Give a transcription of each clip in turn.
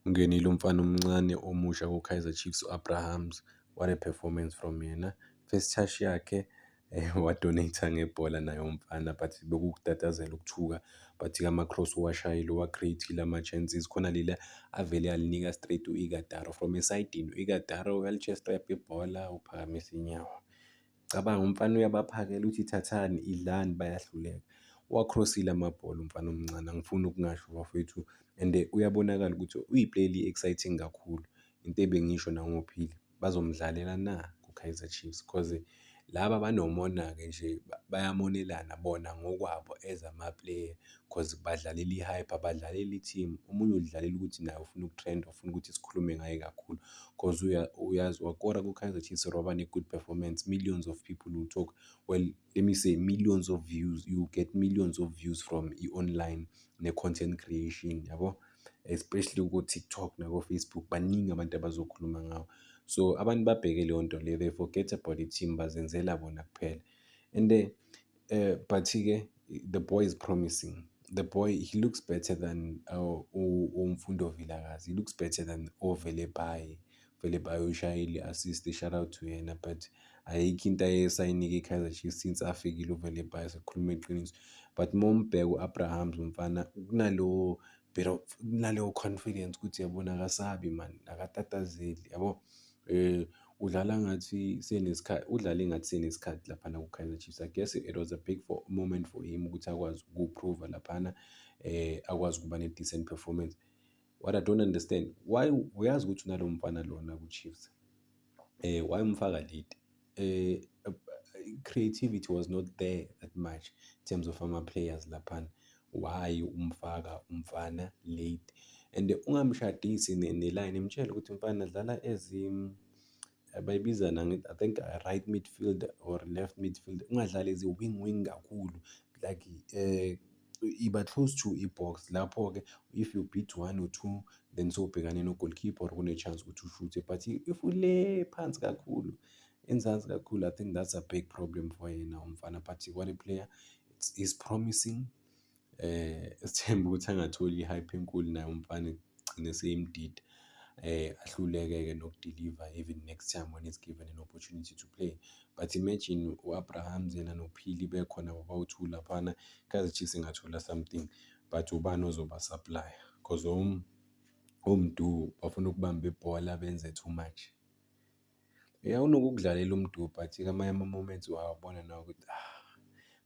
Ungenile umfana omncane omusha kuKaizer Chiefs u-Abrahams. What a performance from yena. First touch yakhe eh, wadonate ngebhola naye umfana but bekukutatazela ukuthuka but kama-cross uwashayile uwa-creatile ama-chances khona leli avele alinika straight u-igadaro from esidini u-igadaro uyalichesta yapha ibhola uphakamise inyawo Cabanga umfana uyabaphakela uthi thathani idlani bayahluleka. Uwacrossile amabhola umfana omncane angifuni ukungasho bafowethu and uyabonakala ukuthi uyi-player eli-exciting kakhulu. Into ebengisho nangoPhili bazomdlalela na kuKaizer Chiefs cause laba banomona-ke nje bayamonelana bona ngokwabo as ama-player. cause badlalela i-hype, abadlaleli i-team. Omunye udlalela ukuthi naye ufuna ukutrenda, ufuna ukuthi sikhulume ngaye kakhulu cause uyazi wakora ku-Kaizer Chiefs waba ne-good performance, millions of people will talk. Well, let me say millions of views, you get millions of views from i-online ne-content creation, yabo? Especially ko-TikTok nako-Facebook, baningi abantu abazokhuluma ngawo. So abantu babheke leyo nto leyo, they forget about i-team, bazenzela bona kuphela and . eh but ke the boy is promising the boy he looks better than uh, u- umfundo vilakazi he looks better than ovele baye vele baye ushayile assist shout out to yena but ayikho into ayesayinike ikaizer chiefs since afikile uvele baye sikhuluma iqiniso but uma umbheka u-abrahams umfana kunalowo bit of kunaleyo confidence ukuthi yabona akasabi mani akatatazeli yabo Udlala ngathi senesikhathi, udlale ngathi senesikhathi laphana kuKaizer Chiefs. I guess it was a big for, moment for him ukuthi akwazi ukuphruva laphana akwazi ukuba ne-decent performance. What I don't understand, why uyazi ukuthi unalo mfana lona kwiChiefs, why umfaka late? eh, eh, creativity was not there that much in terms of ama players laphana why umfaka umfana late and ungamshadisi ne- neline mtshele ukuthi mfana dlala as um, bayibizana ngi- i think uh, right midfield or left midfield ungadlali ezi wing wing kakhulu like eh iba close to i-box lapho-ke if you beat one or two then sobhekane no-goalkeeper or kune-chance ukuthi ushuthe but if ule phansi kakhulu enzansi kakhulu i think that's a big problem for yena umfana but what a player is promising eh sithemba ukuthi angatholi i-hype enkulu naye umfana gcine seyimdida eh ahluleke-ke nokudeliver even next time when he's given an opportunity to play but imagine u-abraham zena nophili bekhona kwabawu-two laphana kazi chiefs ingathola something but ubani ozoba supplier because om omdu bafuna ukubamba ibhola benze too much ya unokukudlalela umdu but kamanye ama-moments wawabona nawo ukuthi ah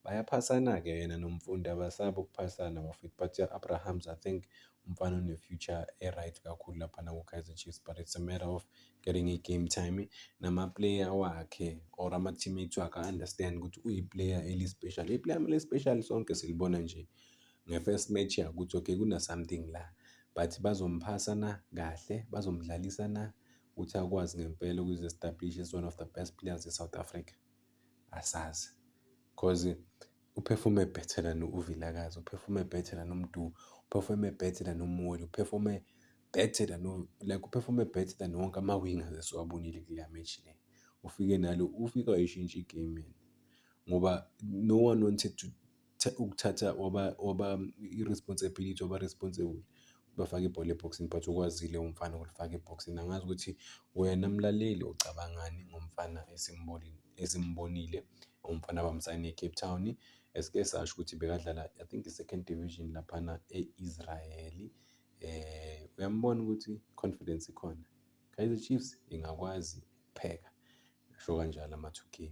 bayaphasana-ke yena nomfundi abasaba ukuphasana bafethu but ya-abrahams i think umfana une-future e-right kakhulu laphana ku-kaizer chiefs but it's a matter of getting i-game time namaplayer wakhe or ama-teammates wakhe a-understand ukuthi uyiplayer eli-special iplayer mele special sonke silibona nje nge-first match yakuthi okay kuna-something la but bazomphasa na kahle bazomdlalisa na ukuthi akwazi ngempela ukuzi-establish as one of the best players e-south africa asazi cause uphefome better than uvilakazi uphefome better than umdu uphefome better than umoli uphefome better than like uphefome better than wonke ama-wingers esiwabonile kule match le ufike nalo ufike wayishintsha igame ngoba no one wanted to ukuthatha waba waba i-responsibility waba responsible bafake ibhola ebhoksini but ukwazile umfana ukulifaka ebhoksini angazi ukuthi wena mlaleli ucabangani ngomfana esimbonile esimbonile umfana bamsayine e-Cape Town esike sasho ukuthi bekadlala I think i-second division laphana e-Israel eh uyambona ukuthi confidence ikhona Kaizer Chiefs ingakwazi ukupheka ngisho kanjalo ama-2K.